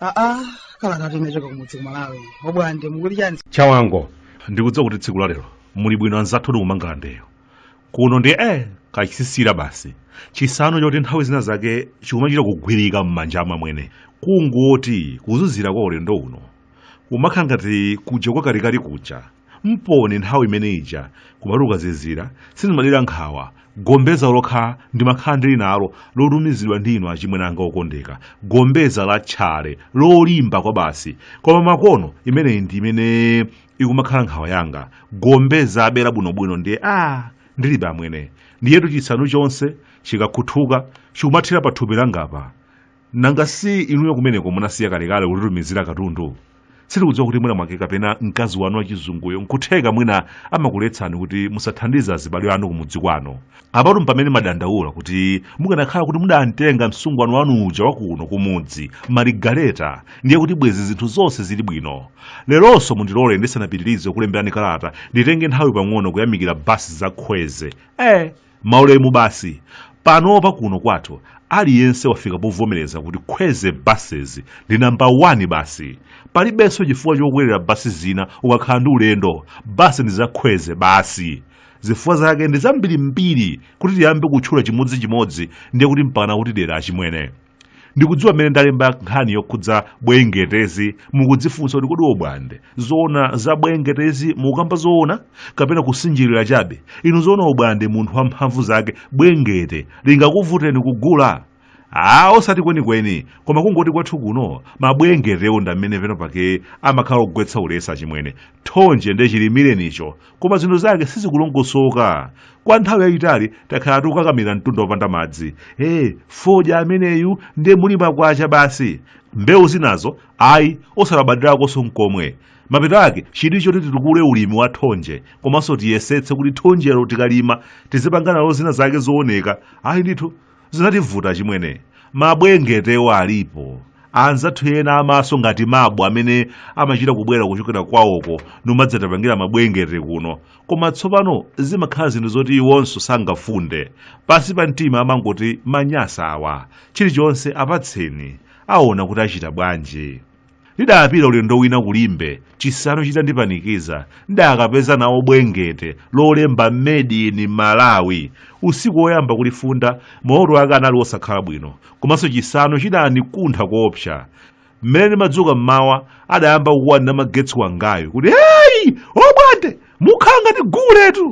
aa kalatatu inachoka kumudzi kumalawi obwande mukuti chani chawanangwa ndikudziwa kuti tsiku la lero muli bwino anzathu ndi kumangalandeyo kuno ndi eh kachisisira basi chisanu choti nthawi zina zake chikumachita kugwirika m'manja amwene kungoti kuzizira kwa ulendo uno kumakhala ngati kuja kwa kalikali kuja mponi nthawi imene ija kumati kukazizira sindimadera nkhawa gombeza lokha ndimakhala ndili nalo lotumizidwa ndi inu achimwene anga okondeka gombeza la tchale lolimba kwa basi koma makono imeneyi ndi imene ikumakhala nkhawa yanga gombeza abera bwinobwino ndiye a ndilibe amwene ndiyetu chisanu chonse chikakhuthuka chikumathera pa thupi langapa nanga si inuyo kumeneko munasiya kalekale kutitumizira katundu sitikudziwa kuti mwina mwake kapena mkazi wanu wachizunguyo nkutheka mwina amakuletsani kuti musathandize azibale anu kumudzi kwanu apatu mpamene ndimadandaula kuti mukanakhala kuti mudamtenga msungwana wanu uja wakuno kumudzi marigareta ndiye kuti bwezi zinthu zonse zili bwino leronso mundilole ndisanapitirize kulemberani kalata nditenge nthawi pang'ono kuyamikira basi za khweze eh maulemu basi panopa kuno kwathu aliyense wafika povomereza kuti khweze buses ndi namba 1 basi palibenso chifukwa chokwerera basi zina ukakhala ndi ulendo basi ndi za khweze basi zifukwa zake ndi zambirimbiri kuti tiyambe kutchula chimodzichimodzi ndiye kuti mpakana kutidera achimwene ndikudziwa mmene ndalemba nkhani yokhudza bwengetezi mukudzifunsa kuti kodi obwande zoona za bwengetezi mukukamba zoona kapena kusinjirira chabe inu zoona obwande munthu wamphamvu zake bwengete lingakuvuteni kugula a osati kwenikweni koma kungoti kwathu kuno mabwengetewo ndamene penapake amakhala ogwetsa ulesi achimwene thonje nde chilimilenicho koma zinthu zake sizikulongosoka kwa nthawi yayitali takhala tikukakamira mtunda wopanda madzi e fodya ameneyu nde muli makwacha basi mbewu zinazo ayi osalabadirakonso mkomwe mapeto ake chili choti titukule ulimi wa thonje komanso tiyesetse kuti thonjelo tikalima tizipanga nalo zina zake zooneka ayi ndithu zinativuta achimwene mabwengetewo alipo anzathu ena amaso ngati mabu amene amachita kubwera kuchokera kwawoko nkumadzatipangira mabwengete kuno koma tsopano zimakhala zinthu zoti iwonso sangafunde pansi pa mtima amangoti manyasa awa chilichonse apatseni aona kuti achita bwanji Ndidapita ulendo wina ku Limbe, chisanu chitandipanikiza, ndidakapeza nawo Bwengete, lolemba Made in Malawi. Usiku woyamba kulifunda, maloto ake anali osakhala bwino, komanso chisanu chidanikuntha koopsa. Mmene ndimadzuka m'mawa, adayamba kukuwa ndi namagetsi wangayu kuti, Heyi! Obwande! Mukhala ngati guletu!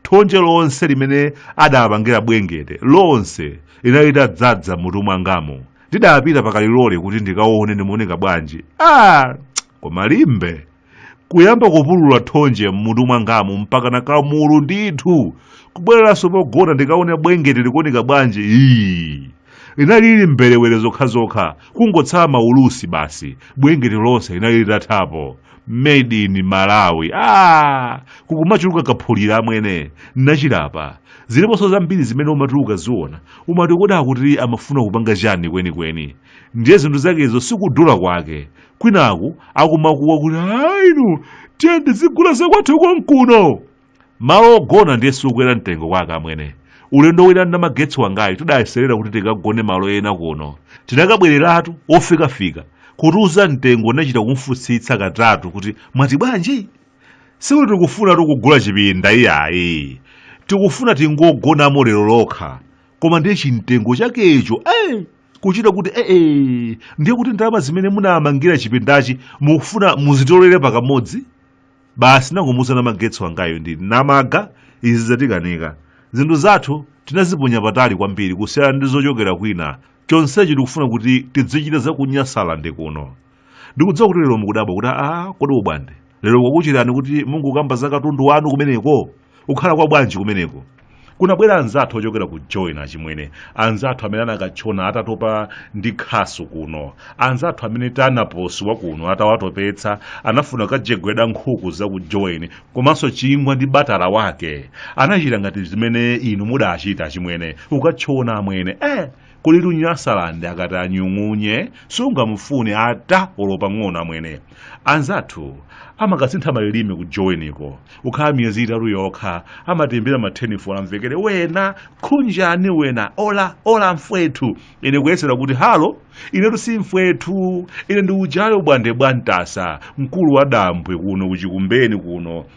Thonje lonse limene adaapangira Bwengete, lonse linali litadzadza m'mutu mwangamu. Ndidapita pa kalilole kuti ndikaone ndimaoneka bwanji. Ah! Koma Limbe! Kuyamba kupulula thonje m'mutu mwangamu mpakana kamulu ndithu. Kubwereranso pogona ndikaone Bwengete likuoneka bwanji. Ii! Linali lili mberewere zokhazokha, kungotsala maulusi basi. Bwengete lonse linali litathapo. made in malawi ah, kukumachuluka kaphulira amwene nachilapa ziliponso zambiri zimene umati ukaziona umati kodi akuti amafuna kupanga chani kwenikweni ndiye zinthu zakezo sikudula kwake kwinaku akumakuwa kuti aa inu tiyeni tizigula zakwathu konkuno malo ogona ndiye sikukwera mtengo kwake amwene ulendo wina namagetsi wangayi tidayeserera kuti tikagone malo ena kuno tinakabwereratu ofikafika kutiuza mtengo nachita kumfutsitsa katatu kuti mwati bwanji sikuti tikufuna tikugula chipinda iyayi tikufuna tingogonamo lero lokha koma ndiye chimtengo chakecho eh, kuchita kuti eh, eh, ndiye kuti ndalama zimene munamangira chipindachi mukufuna muzitolere pakamodzi basi nangomuuza namagetsi wangayo ndi namaga izi zatikanika zinthu zathu tinaziponya patali kwambiri kusiyana ndi zochokera kwina chonsechi tikufuna kuti tidzichita zaku nyasalande kuno ndikudziwa kuti lero mukudabwa kuti aa kodi obwande lero kwakucherani kuti mungokamba za katundu wanu kumeneko kukhala kwa bwanji kumeneko kunabwera anzathu ochokera ku joweni achimwene anzathu amene anakatchona atatopa ndi khasu kuno anzathu amene tanaposi wa kuno atawatopetsa anafuna kukajegweda nkhuku za ku joweni komanso chingwa ndi batala wake anachita ngati zimene inu mudachita achimwene ukatchona amwene eh kuli ku nyasalande akati anyung'unye sungamufune ata olo pang'ono amwene anzathu amakasintha malilime ku joweniko ukhala miyezi itatu yokha amatembera mathenifolo amvekere wena khunjani wena ola ola mfwethu ine kuyesera kuti halo inetu si mfwethu ine ndi uja obwande bwantasa mkulu wa dambwe kuno ku chikumbeni kuno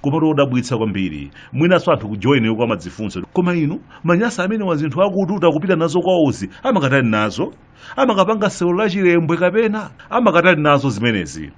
koma chodabwitsa kwambiri mwinanso anthu kujoweniko amadzifunsa koma inu manyasa amenewa zinthu akututa kupita nazo kwawozi amakatani nazo amakapanga sewero la chilembwe kapena amakatani nazo zimenezi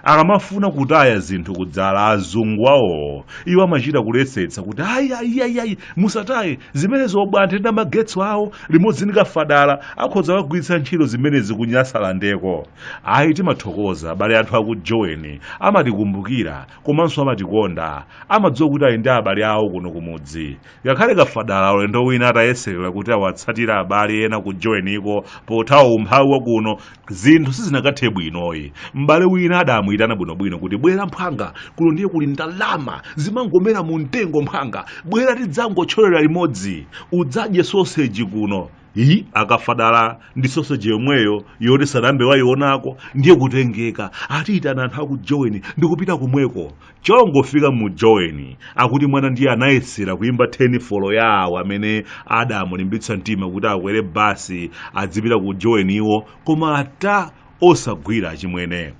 akamafuna kutaya zinthu kudzala azungu awowo iwo amachita kuletsetsa kuti ayi ayi ayi ayi musataye zimenezo obwande ndi magetsi awo limodzi ndi kafadala akhoza kugwiritsa ntchito zimenezi kunyasalandeko ayi timathokoza abale anthu akujoweni amatikumbukira komanso amatikonda amadziwa kuti ali ndi abale awo kuno kumudzi ngakhale kafadala ulendo wina atayeserera kuti awatsatira abale ena ku joweniko pothawa umphawi wa kuno zinthu sizinakathe bwinoyi m'bale wina adamuyitana bwinobwino kuti bwera mphwanga kuno ndiye kuli ndalama zimangomera mu mtengo mphwanga bwera tidzangotcholera limodzi udzadye soseji kuno iyi akafadala ndi soseji yomweyo yoti sanayambe wayionako ndiye kutengeka atayitana anthu aku joweni ndikupita kumweko chongofika mu joweni akuti mwamuna ndiye anayesera kuyimba tenifolo ya awo amene adamulimbitsa mtima kuti akwere basi azipita ku joweni iwo koma ata osagwira achimwene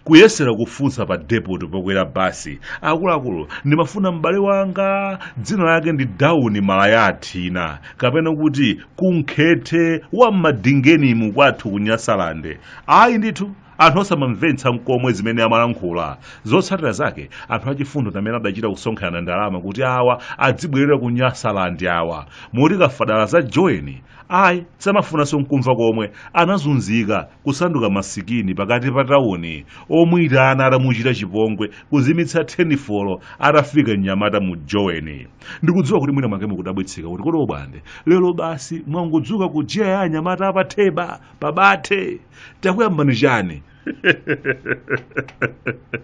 kuyesera kufunsa pa depot pokwera basi akuluakulu ndimafuna m'bale wanga dzina lake ndi dawuni malayathina kapena kuti kunkhete wa mmadingenimu kwathu ku nyasalande ayi ndithu anthu osamamvetsa mkomwe zimene amalankhula zotsatira zake anthu achifundo ndi amene adachita kusonkherana ndalama kuti awa azibwerera ku nyasalande awa moti kafadala za joweni ayi samafunanso mkumva komwe anazunzika kusanduka masikini pakati pa tauni omuyitana adamuchita chipongwe kuzimitsa tenifolo atafika mnyamata mu joweni ndikudziwa kuti mwina mwake mukudabwitsika kuti kodi obwande lero basi mwangodzuka ku giya ya anyamata apatheba pabathe takuyambani chani